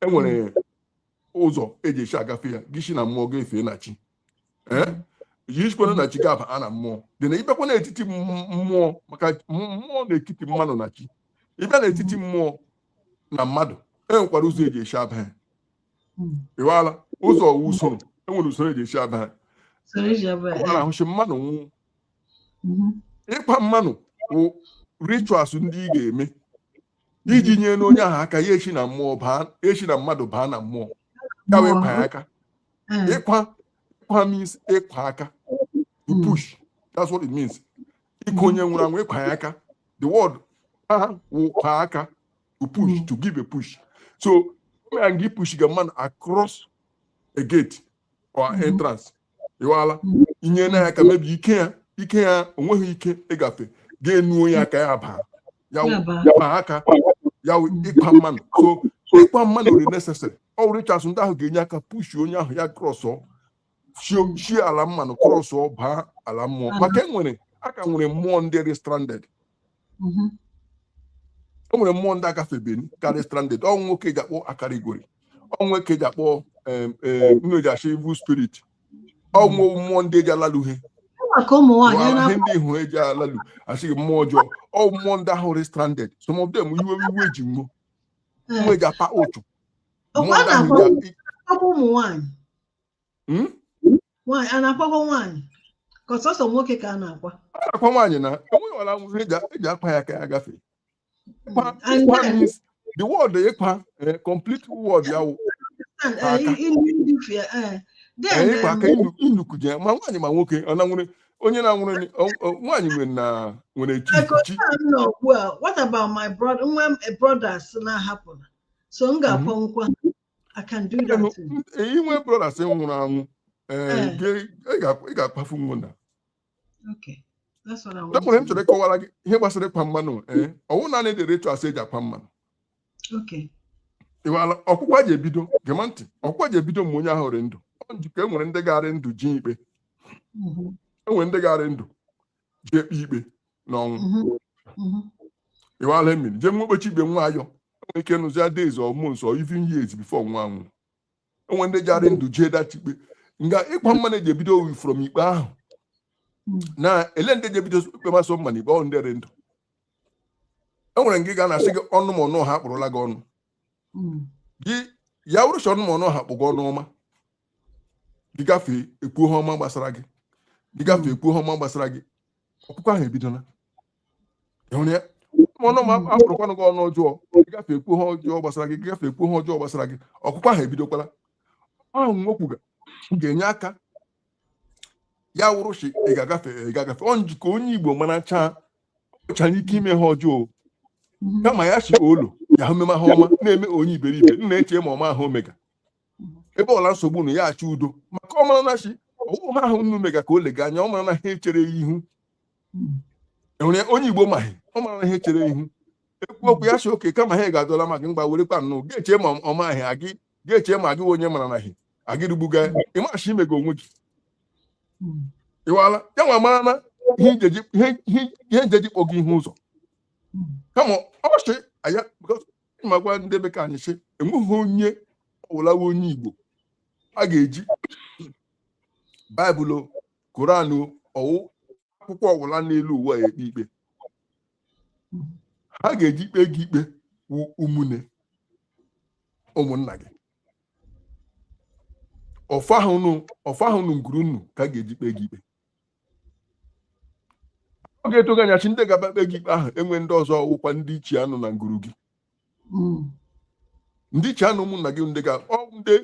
e nwere ụzọ eji esi agafe ya gị si na mmụọ ga-efe na chi gị sikwa na chi ga-aba na mmụọ dị na ịbịakwa n'etiti m- mmụọ maka m- mmụọ n'etiti mmadụ na chi ịbịa n'etiti mmụọ na mmadụ e nwekwara ụzọ eji esi aba ha Mm. ịwala ụzọ ọ wụ usoro e nwere usoro eji esi aba ha So eji aba ọ ya. na-ahụchi mmadụ nwụọ Mhm. ịkwa mmanụ bụ rituals ndị ị ga-eme iji nyena onye ahụ aka ya eshi na mmụọ baa shi na mmadụ baa na mmụọ ya wụ ịkwa aka hmm. ịkwa ịkwa means ịkwa aka to hmm. push that's what it means ịkwa onye nwụrụ anwụ ịkwa ya aka the word ahụ wụ ịkwa aka to push hmm. to give a push so man gị push ga mmadụ across a gate or mm-hmm. entrance ịwala mm-hmm. inyena ya aka maybe ike ya ike ya o nweghị ike ịgafe ga-enuo ya aka ya baa ya baa aka ya wụ ịkwa mmanụ so ịkwa mmanụ dị necessary ọ wụ rituals ndị ahụ ga-enye aka push onye ahụ ya cross shi ala mmanụ cross baa ala mmụọ maka e nwere a ka nwere mmụọ ndị rị stranded mhm. o nwere mmụọ ndị agafebeni ka rị stranded ọ wụ nwo ke e ji akpọ akarigori ọ wụ nwo ke e ji akpọ ndị a shị evil spirit ọ wụ mmụọ ndị eji alalu ihe ihe ndị hụrụ eji alalu asị mmụọ ọjọọ ọ mmụọ ndị ahụ rị stranded some of them iwe iwe ji nwo nwo eji akpa ụchụ mmụọ ndị ahụ Hmm? nwaanyị a na-akwakwa nwaanyị ka ọ sọsọ nwoke ka a na-akwa a na-akwa nwaanyị na enweghị ọla nwụrụ eji eji akwa ya ka ya gafee Kwa- And kwa then- means the word ịkwa eh, complete word ya wụ And, eh, Aka. i- i- ndị fi- eh, then, eh, ịkwa um, ka inu- inukuje ma nwaanyị ma nwoke ọ na nwere onye na-anwụrụ ni- ọ- ọ- nwaanyị nwere na nwere chi like chi otu a m nọ ugbu a what about my brother nwe m brothers na-ahapụla so m ga-akwanwukwa I can do Ị that. too. ga- i nwe brothers nwụrụ anwụ ee, Eh. gị- ị ga- ị ga-akwafu nwo na Okay. That's what I want. enwere m to chọrọ ịkọwara gị ihe gbasara ịkwa mmanụ ee ọ wụ naanị the rituals e ji akwa mmanụ do. Okay. ịwala ọkwụkwa ji ebido gema ntị ọkwụkwa ji ebido mgbe onye ahụ rị ndụ Ọ njikọ enwere ndị ga-arị ndụ ji ikpe Mhm. enwere ndị ga-arị ndụ ji ekpe ikpe n'ọnwụ mhm, mhm. ịwala mmiri jee nwo ekpechi ikpe nwo ayọ enwere ike nụzi ya days or months or even years before nwo anwụ enwere ndị ga-arị ndụ jee data ikpe nga ịkwa mmanụ eji ebido ọ wụ from ikpe ahụ Mm. na ele ndị ji ebido ikpe masọ mma na ikpe ọ wụrụ ndị rị ndụ enwere nke ga na-asị gị ọnụ ma ọnụ ha akpụrụla gị ọnụ Mm, gị ya wụrụ sọ ọnụ ma ọnụ ha kpụ gị ọnụ ọma gị gafee ekwu ihe ọma gbasara gị gị gafee ekwu ihe ọma gbasara gị ọkụkọ ahụ ebidola ịhụrụ ya ọnụ ma akpụrụkwanụ gị ọnụ ọjọọ gị gafee ekwu ihe ọjọọ gbasara gị gị gafee ekwu ihe ọjọọ gbasara gị ọkụkọ ahụ ebidokwala ahụ nwokwu ga-enye aka ya wụrụ si ị ga-agafe ọ nji ka onye igbo maracha ọchara ike ime ihe ọjọọ kama ya si olo ya hụ meme ihe ọma na-eme onye iberibe na-eche ma ọ maghị ihe o mega ebe ọla nsogbu na ya achọ udo maka ọ mara na si ọwụ ihe ahụ unu mega ka o lega anya ọ mara na ihe echere ya ihu enwere onye igbo maghị ọ mara na ihe echere ya ihu ekwu okwu ya si oke kama ha ga-adọla ma gị mgba werekwa nnụ ga-eche ma ọ maghị agị ga-eche ma agị onye mara na hi agịrịgbuga ị ma si i mega onwe gị ịwala ya nwa mara na ihe njeji ihe- ihe- ihe njeji kpọ gị ihu ụzọ kama ọ sị aya because ị makwa ndị be ka anyị sị enweghị onye ọwụla wụ onye igbo a ga-eji baịbụl koran ọwụ akwụkwọ ọwụla n'elu ụwa ya ekpe ikpe ihe a ga-eji ekpe gị ikpe wụ ụmụnne ụmụnna gị ọfọ ahụ nọ nguru unu ka a ga-eji kpe gị ikpe ọ ga-atụ gị anya si ndị ga-abịa kpe gị ikpe ahụ enwe ndị ọzọ ọwụkwa ndị ichie a nọ na nguru gị hmm. ndị ichie a nọ ụmụnna gị ndị ga ndị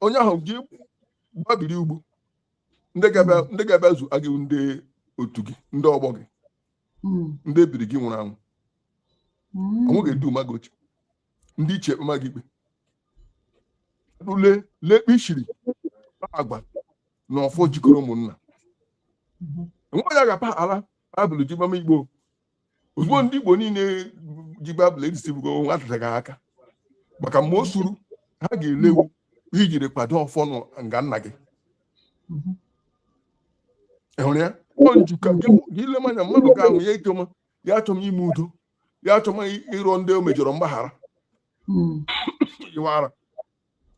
onye ahụ gị gbabiri ugbo ndị ga-abịa zua gị ndị otu gị ndị ọgbọ gị hmm. ndị ebiri gị nwụrụ anwụ hmm. ọ nwo ga-eduma gị oche ndị ichie ekpema gị ikpe ule lekpe i shiri agba na ọfọ jikọrọ ụmụnna nwa ya ga-apa ala baịbụl ji gbama igbo ozugbo ndị igbo niile ji baịbụl edisibugo nwa atataghị aka maka mgbe o suru ha ga-ele wụ i jiri kwado ọfọ nọ nga nna gị ị hụrụ ya ọ nji ka gị gị ilema anya mmadụ ga-anwụ ya achọma ya achọma ime udo ya achọma ịrịọ ndị o mejọrọ mgbaghara ịwara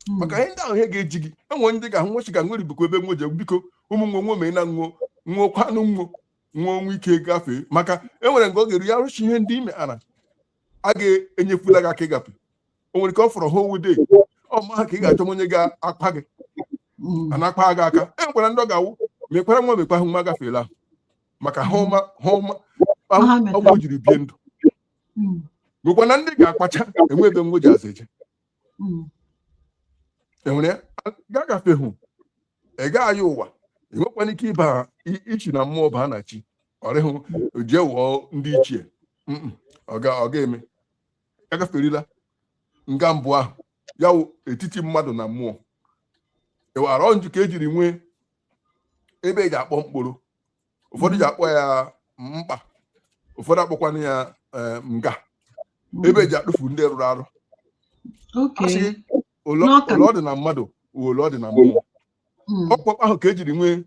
hmm. maka ihe ndị ahụ ihe ga-eji gị enwere ndị ga-ahụ nwo si ga nwere bụkwa ebe nwo je biko ụmụ nwe nwe mee na nwo nwụọ kwanụ nwo nwa onwe ike gafee maka enwere nke ọ ga-eru ya rụchi ihe ndị ime ana a ga-enyefula gị aka ịgafe o nwere ka ọ fọrọ ha owude ọma ha ka ị ga-achọ onye ga-akpa gị hmm. a na-akpa gị aka e nwekwara ndị ọ ga-awụ mekwara nwa mekwa ahụ nwa gafeela maka ihe ọma ihe ọma ọgwụ jiri bie ndụ hmm. nwekwa na ndị ga-akpacha enwe ebe nwo ji azụ eje hmm. enwere ya ga-agafehu ị gaghị ụwa ị nwekwana ike ịba ichi na mmụọ baa na chi ọrịhụ jee wụọ ndị ichie ọ ga-eme agaferila nga mbụ ahụ ya wụ etiti mmadụ na mmụọ ị wara njikọ ejiri nwee ebe eji akpọ mkpụrụ ụfọdụ ji akpọ ya mkpa ụfọdụ akpọkwana ya eh, nga ebe eji adụfu ndị rụrụ arụ Okay. asị gị ole N'ọka. ole ọ dị na mmadụ wụ ole ọ dị na mmụọ Mm. ọ kwa mkpa ahụ ka e jiri nwee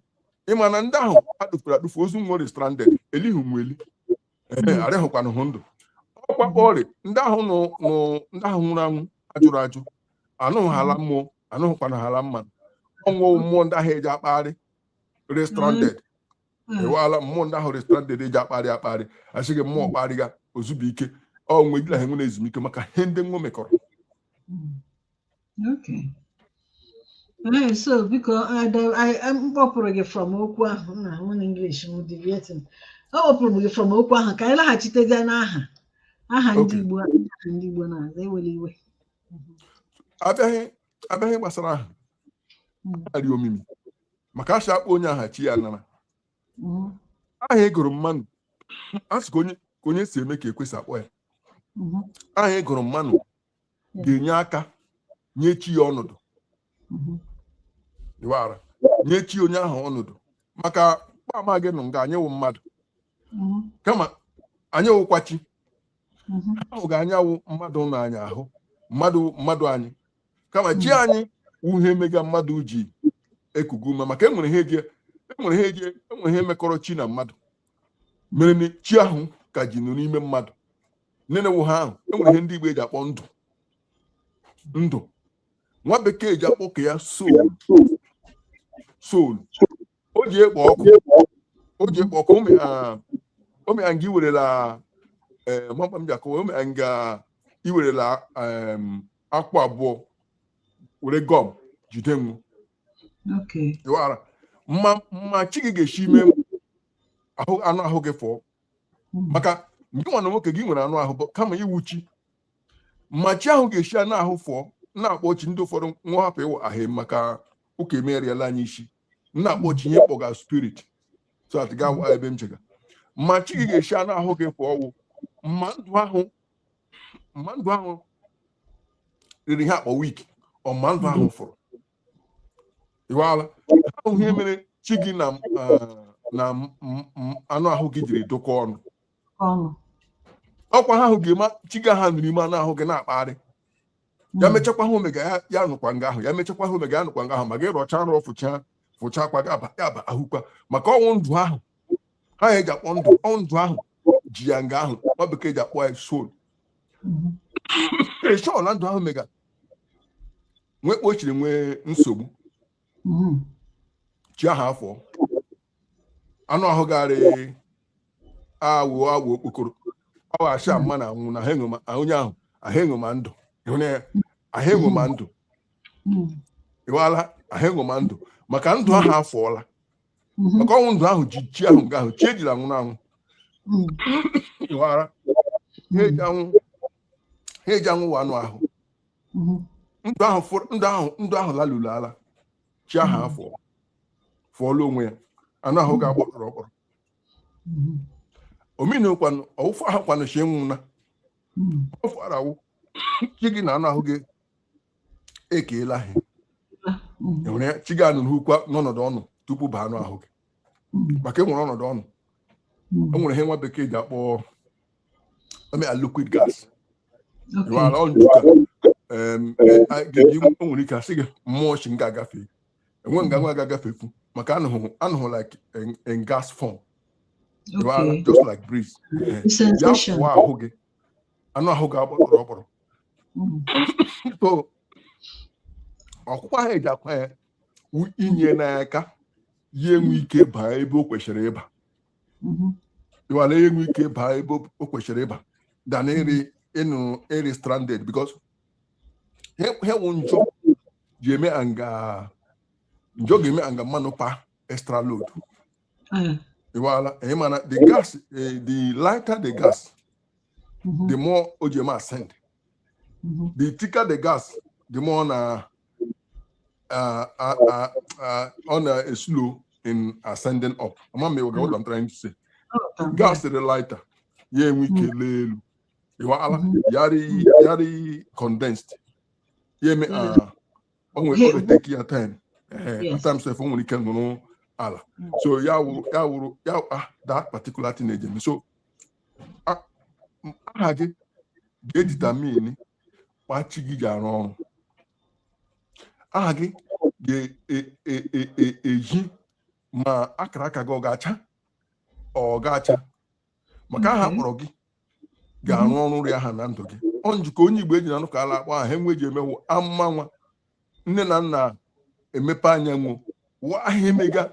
ịma na ndị ahụ adụfuru adụfu ozu nwa rị stranded elihu nwa eli Mm. arịhụkwanụ hụ ndụ ọ kwa mkpa rị ndị ahụ nụ nụ ndị ahụ nwụrụ anwụ ajụrụ ajụ anụghị ha ala mmụọ anụghịkwanụ ha ala mmanụ ọ wụ mmụọ ndị ahụ eji akpagharị rị stranded mm. ị wala mmụọ ndị ahụ rị stranded eji akparị akparị asị gị mmụọ kparịga o zubu ike ọ nwe gị na ha enwe ezumike maka ihe ndị nwa mekọrọ so biko m kpọpụrụ gị from okwu ahụ na nwunye English m deviating ọ kpọpụrụ gị from okwu ahụ ka anyị laghachitezie n'aha aha ndị Igbo ndị Igbo na-aza ewere iwe abịaghị a bịa ihe gbasara aha rị omimi maka asị akpọ onye aha chi ya nara aha ị gụrụ mmanụ asị ka onye ka onye si eme ka ekwesị akpọ ya aha ị gụrụ mmanụ ga-enye aka nye chi ya ọnọdụ ị wara nye chi onye ahụ ọnọdụ maka kpa ma gị nụ nga anyị wụ mmadụ kama anyị wụkwa chi mhm. ahụ ga anyị wụ mmadụ na anyị ahụ mmadụ mmadụ anyị kama chi mhm. anyị wụ ihe mega mmadụ ji ekugu ume maka enwere ihe eji enwere ihe eji enwere ihe mekọrọ chi na mmadụ mere na chi ahụ ka ji nụ n'ime mmadụ nene wụ ha ahụ enwere ihe ndị Igbo ji akpọ ndụ ndụ nwa bekee ji akpọ ke ya soul soul o ji ekpo ọkụ o ji ekpo ọkụ o mea o mea nga i werela ee mama m ji akọwa o mea nga i werela em, akwụ abụọ were gum jide m Okay. ị wara ma ma chi gị ga-esi ime m ahụ anụ ahụ gị fụọ Mm. maka gị nwanne nwoke gị nwere anụ ahụ bụ kama ị wụ chi ma chi ahụ ga-esi anụ ahụ fụọ na-akpọ chi ndị ụfọdụ nwa hapụ ịwa ahụ maka ụka emeriela anyị isi m na-akpọ chi ihe kpọga spirit so that ị ga-awa ebe m chega ma chi gị ga-esi anụ ahụ gị fụọ ọ wụ ma ndụ ahụ ma ndụ ahụ rịrị ihe akpọ weak or ma ndụ ahụ fụrụ ị wala ahụ ihe mere chi gị na ah, na m- m- m- anụ ahụ gị jiri dụkọ ọnụ ọnụ ọkwa ha ahụ ga-eme chi gị ha nụrụ ime anụ ahụ gị na-akpagharị ya hmm. mechakwa ha omega ya nụkwa nga ahụ ya mechakwa ha omega ya nụkwa nga ahụ ma gị rọcha nrọ fụcha fụcha akwa gị aba ya aba ahụkwa maka ọ wụ ndụ ahụ ha ya eji akpọ ndụ ọ wụ ndụ ahụ ji ya nga ahụ nwa bekee ji akpọ ya soul ịchọọ hmm. na ndụ ahụ mega nwee kpochiri nwee nsogbu hmm. chi ahụ afọ anụ ahụ garị awụ awụ okpokoro awụ asha mma na anwụ na ha enwe ma- onye ahụ ahụ enwe ma ndụ ịhụna ya ahụ enwe ma ndụ ịwala ahụ enwe ma ndụ maka ndụ ahụ afọọla maka ọ wụ ndụ ahụ ji chi ahụ nga ahụ chi ejiri anwụ na anwụ ịwara ha eji anwụ ha eji anwụ wa anụ ahụ ndụ ahụ fọrọ- ndụ ahụ ndụ ahụ laluru ala chi ahụ hmm. afọ fụọla onwe ya anụ ahụ ga agbakọrọ ọkpọrọ hmm. omenekwanụ ọwụfụ ahụ kwanụ chi nwụna hmm. ọ fara awụ chi gị na anụ ahụ gị ekeela ha enwere chi gị anụ n'ukwu n'ọnọdụ ọnụ tupu baa anụ ahụ gị maka enwere ọnọdụ ọnụ hmm. enwere ihe nwa bekee ji akpọ emea liquid gas ịwara ọnụ ka ga-eji nwere ike asị gị mmụọ shi nga agafe enwe nga nwa ga-agafefu maka anụhụ like in gas form ịwara just like breeze ya pụọ ahụ gị anụ ahụ gị agbọrọ ọkpọrọ hmm. so ọkwụkwa ahụ eji akwa ya inye n'aka ya enwe ike baa ebe o kwesịrị ịba mhm. ịwara ya enwe ike baa ebe o kwesịrị ịba than eri ịnụ eri stranded because ha wụ njọ ji eme anga njọ ga-eme anga mmanụ pa extra load mm. ịwala ị ma na the gas eh, the lighter the gas mm-hmm. the more o ji eme ascend mm-hmm. the thicker the gas the more ọ na uh, uh, uh, uh, ọ na slow in ascending up ama m ịwaga what I'm trying to say gas dị lighter ya enwe ike lee elu ịwala ya rị condensed ya eme uh, o nwere ọ take ya time at times if o nwere ike nụrụ ala so ya wụrụ ya wụrụ ya ah that particular thing eji eme so aha gị ga-edetermine kpa chi gị ji arụ ọrụ aha gị ga-eji ma akara aka gị ọ ga-acha ọ ga-acha maka aha mhm. kpọrọ gị ga-arụ ọrụ rịa aha na ndụ gị ọ njikọ onye Igbo eji na anọka ala akpọ aha enwe ji eme wụ amụa nwa nne na nna emepe anya nwụ wa ahụ emega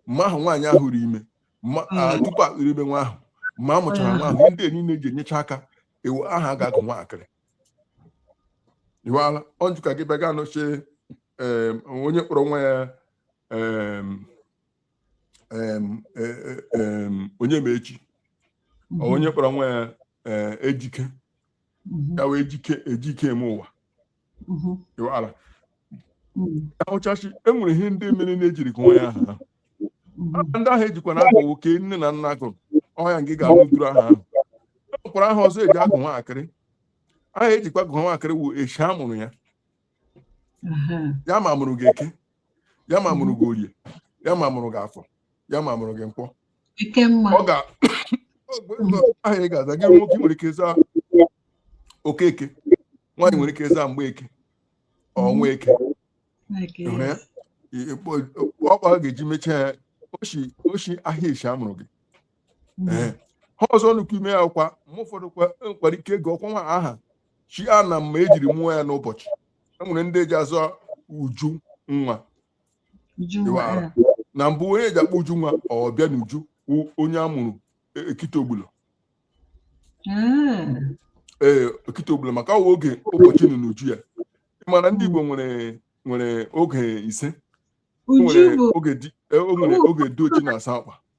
ma ahụ nwaanyị ahụ ri ime ma a, Mm. tupu a rịrị ime nwa ahụ ma a mụchara nwa ahụ ndị niile ji enyecha aka iwe aha a ga-agụ nwaakịrị iwala ọjụ ka gị bịa gaa nọchie em, onye kpọrọ nwa ya em, em, e- e- em, onye ma echi ọ onye kpọrọ nwa ya eh, ejike ya wụ ejike ejike eme ụwa mhm. ala mhm. ọ wụcha shị enwere ihe ndị mere na-ejiri gụọ ya aha mhm. ndị ahụ ejikwa na-akọwa ka nne na nna gụrụ ọhịa nke ga-abụ duru aha ahụ enwekwara aha ọzọ eji agụ nwaakịrị aha ejikwa gụọ nwaakịrị wụ eshi a mụrụ ya ya ma mụrụ gị eke ya ma mụrụ gị orie ya ma mụrụ gị afọ ya ma mụrụ gị nkwọ ọ ga aha ị ga-aza gị nwoke nwere ike zaa okeke nwaanyị nwere ike zaa mgbeke ọ nwaeke ọ kpa a ga-eji mechaa ya o shi ahịa eshi amụrụ gị hmm. ihe ọzọ nọkwa ime ya kwa ma ụfọdụ nwekwara ike gụọkwa nwa aha shi a na mma ejiri mụọ ya n'ụbọchị enwere ndị ji aza uju nwa na mbụ onye eji akpọ uju nwa ọbịa n'uju onye a mụrụ ekite ogbula hmm. ee ekite ogbula maka ọ wụ oge ụbọchị nọ n'uju ya ịmara ndị Igbo nwere nwere oge ise oge dị oji na asa akwa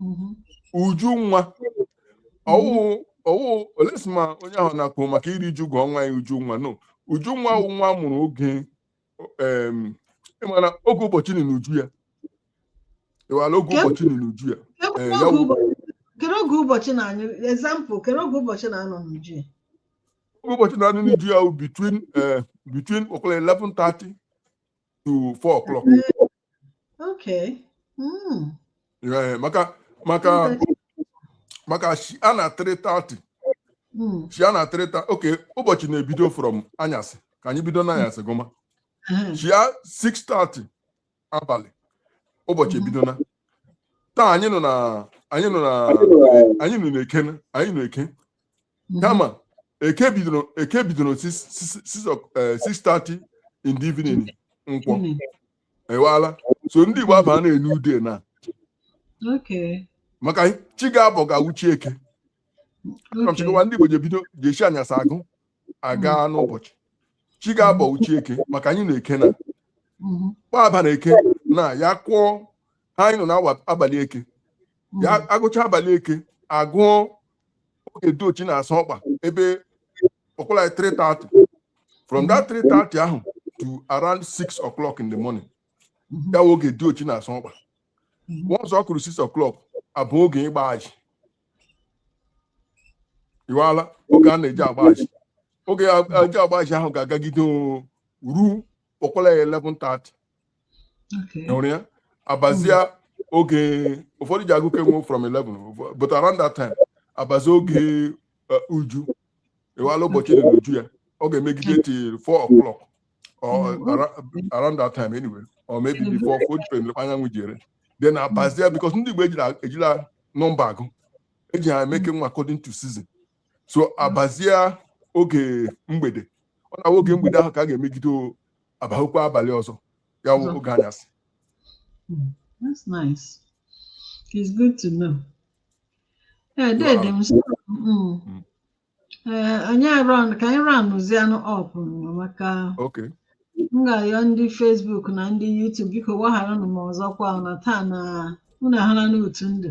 mhm. uju nwa ọwụ ọwụ unless ma onye ahụ na-akpọ maka iri ju gụọ nwa ya uju nwa no uju nwa wụ nwa a mụrụ oge ịmara oge ụbọchị nọ n'uju ya ịwala oge ụbọchị nọ n'uju ya kere oge ụbọchị nye anyị example kere oge ụbọchị na-anọ n'uju ya oge ụbọchị na-anọ n'uju ya wụ between between ọ kụọla 11:30 to 4 o'clock Okay. Mm. Yeah, maka maka maka shi a na 3:30 Mm. shi a na 3:30 okay ụbọchị na-ebido from anyasị ka anyị bido n'anyasị gụma Uh-huh. shi a 6:30 abalị ụbọchị Mhm. ebidona taa anyị nọ na anyị nọ na anyị nọ n'eke anyị nọ eke mhm. kama eke bidoro eke bidoro 6:30 eh, in the evening nkwọ mhm. iwala so ndị Igbo aba na-enu ude na maka chi ga-abọ ga-awụ chi eke chịkọwa ndị Igbo ji ebido ji eshi anyasị agụ aga mhm. n'ụbọchị chi ga-abọ wụ chi eke maka anyị na-eke na kpaba na eke na ya kụọ anyị nọ n'abalị eke ya agụcha abalị eke agụọ oge diochi na-asụ ọkpa ebe ọ kụọla 3:30 from that 3:30 ahụ to around 6 o'clock in the morning ya wụ oge diochi na-asụ ọkpa once ọ kụrụ 6 o'clock abụ oge ịgba ajị iwala oge a na-eji agba ajị oge a- eji agba ajị ahụ ga-agagide oo, ruo ọ kụọla 11:30 hụrụ ya abazia oge ụfọdụ ji agụ ke nwa from 11 but around that time abazi oge uh, uju ewala ụbọchị dị n'uju ya ọ ga-emegide till 4 o'clock or mm-hmm. around, around that time anyway or maybe mm-hmm. before 4 pm anyanwụ jere then abazia because ndị Igbo ejila nọmba agụ eji ha eme ke nwa according to season so abazie oge mgbede ọ na oge mgbede ahụ ka a ga-emegide abazikwa abalị ọzọ ya wụ oge anyasị hmm, that's nice it's good to know ee eh, dede m hmm. hmm. eh, anyị round ka anyị roundzienụ up maka m ga-ayọ ndị Facebook na ndị YouTube biko gbagharanụ m ọzọkwa na taa na unu ahụla n'otu ndụ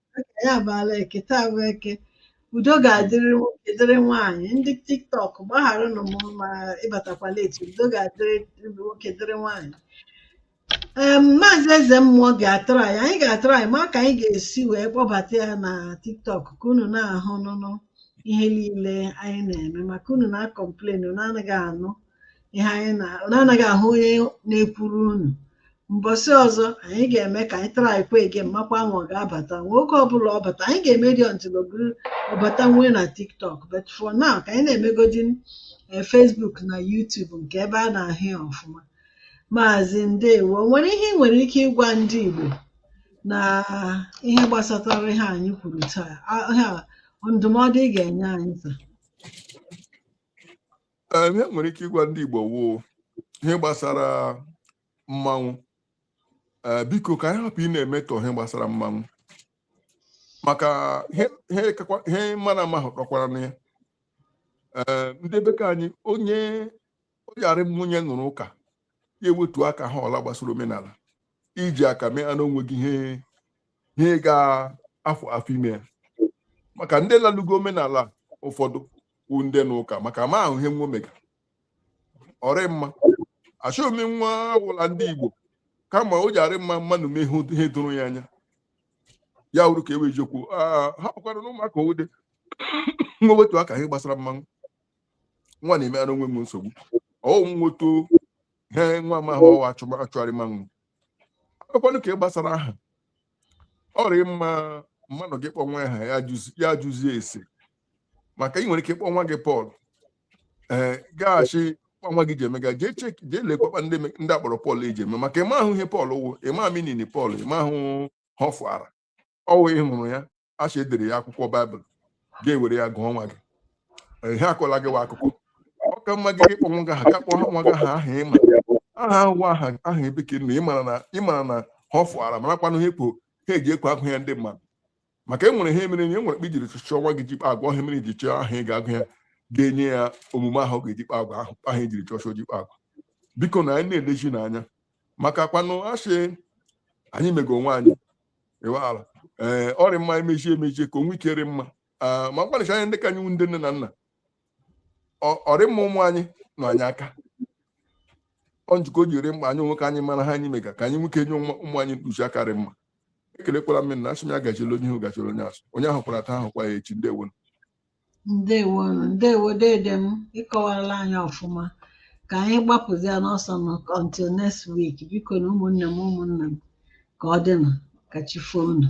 anyị abaala eke taa bụ eke udo ga-adịrị nwoke dịrị nwaanyị ndị tiktok gbagharanụ m ma ịbatakwa late udo ga-adịrị nwoke dịrị nwaanyị ee maazị eze mmụọ ga-atraị anyị ga-atraị ma ka anyị ga-esi wee kpọbata ya na tiktok ka unu na-ahụ nụnụ ihe niile anyị na-eme maka unu na-akọmplen unu anaghị anụ ihe anyị na unu anaghị ahụ onye na-ekwuru unu mbọsị ọzọ anyị ga-eme ka anyị traịkwa again makwa ma ọ ga-abata nwoke ọbụla ọ bata anyị ga-eme dị until ọ bụrụ ọ bata nwee na tiktok but for now ka anyị na-emegodi eh, facebook na youtube nke ebe a na-ahụ ya ọfụma maazị ndewo o nwere ihe ị nwere ike ịgwa ndị igbo na ihe gbasatara ihe anyị kwuru taa Ah, ihe a, ndụmọdụ ị ga-enye anyị taa Ee, ihe m nwere ike ịgwa ndị Igbo wụ ihe gbasara mmanwụ Ee, biko ka anyị hapụ ịna-emetọ ihe gbasara mmanwụ maka ihe ihe kakwa- ihe mmadụ na-amahụ kakwaranụ ya Ee, ndị be ka anyị onye oyarị nwunye nụrụ ụka ya ewetu aka ihe ọwụla gbasara omenala iji aka mee anụ o nweghị ihe ihe ga-afọ afọ ime ya maka ndị lalugo omenala ụfọdụ kwu ndị n'ụka maka amahụ ihe nwa mega ọ rị mma achọghị m nwa awụla ndị Igbo kama o ji arị mma mmadụ mee ihe doro ya anya ya wụrụ ka e wee jekwu hapụkwaranụ ụmụaka owude nwa wetu aka ihe gbasara mmanwụ nwa na-eme ara onwe m nsogbu ọ wụ m nwoto ihe nwa amahụ ọwa achụgharị mmanwụ akpakwanụ ka ị gbasara aha ọ rị mma mmadụ gị kpọ nwa aha ya jụzie ese maka ị nwere ike kpọọ nwa gị Pọl ee ga-asị kpa nwa gị ji emega jee check jee lekwakwa ndị me- ndị a kpọrọ Pọl eji eme maka ị mahụ ihe Pọl wụ ịma meaning Pọl ị mahụ ihe ọ fụtara ọ wụ ị hụrụ ya a sị e dere ya akwụkwọ Baịbụl gị ewere ya gụọ nwa gị Ee, ihe akọla gị wa akụkọ ọ ka mma gị ịkpọ nwa gị aha ga kpọọ nwa gị aha aha ịma aha ahụwa aha aha ebe ka ị nọ ịmara na ịmara ihe ọ fụtara marakwanụ ha ekpo ha eji ekpo agụ ya ndị mmadụ maka e nwere ihe mere na e nwere kpa i jiri chọọ nwa gị ji kpa agwa ọ ihe mere i ji chọọ aha ị ga-agụ ya ga-enye ya omume ahụ ọ ga-eji kpa agwa ahụ ahụ e jiri chọọ o ji kpa agwa bikonụ anyị na-elechi n'anya maka kwanụ asị anyị mego onwe anyị ịwaala ee ọ rị mma emechi emechi ka o nwee ike rị mma Ah, ma mkpanịcha anya ndị ka anyị ndị nne na nna ọ- ọ rị mma ụmụ anyị nọ anyị aka ọ njikọ o ji rị mkpa anyị onwe ka anyị mara ihe anyị mega ka anyị nwee ike nye ụmụ ụmụ anyị mkpuchi aka rị mma ekelekwala m na asị m ya gachiri onye ihu gachiri onye azụ onye ahụ kwara taa ahụ kwa ya echi ndewo ndewo ndewo dede m ị kọwarala anyị ọfụma ka anyị gbapụzi ya n'ọsọ nụ until next week bikonụ ụmụnne m ụmụnna m ka ọ dịnụ ka chi foo unu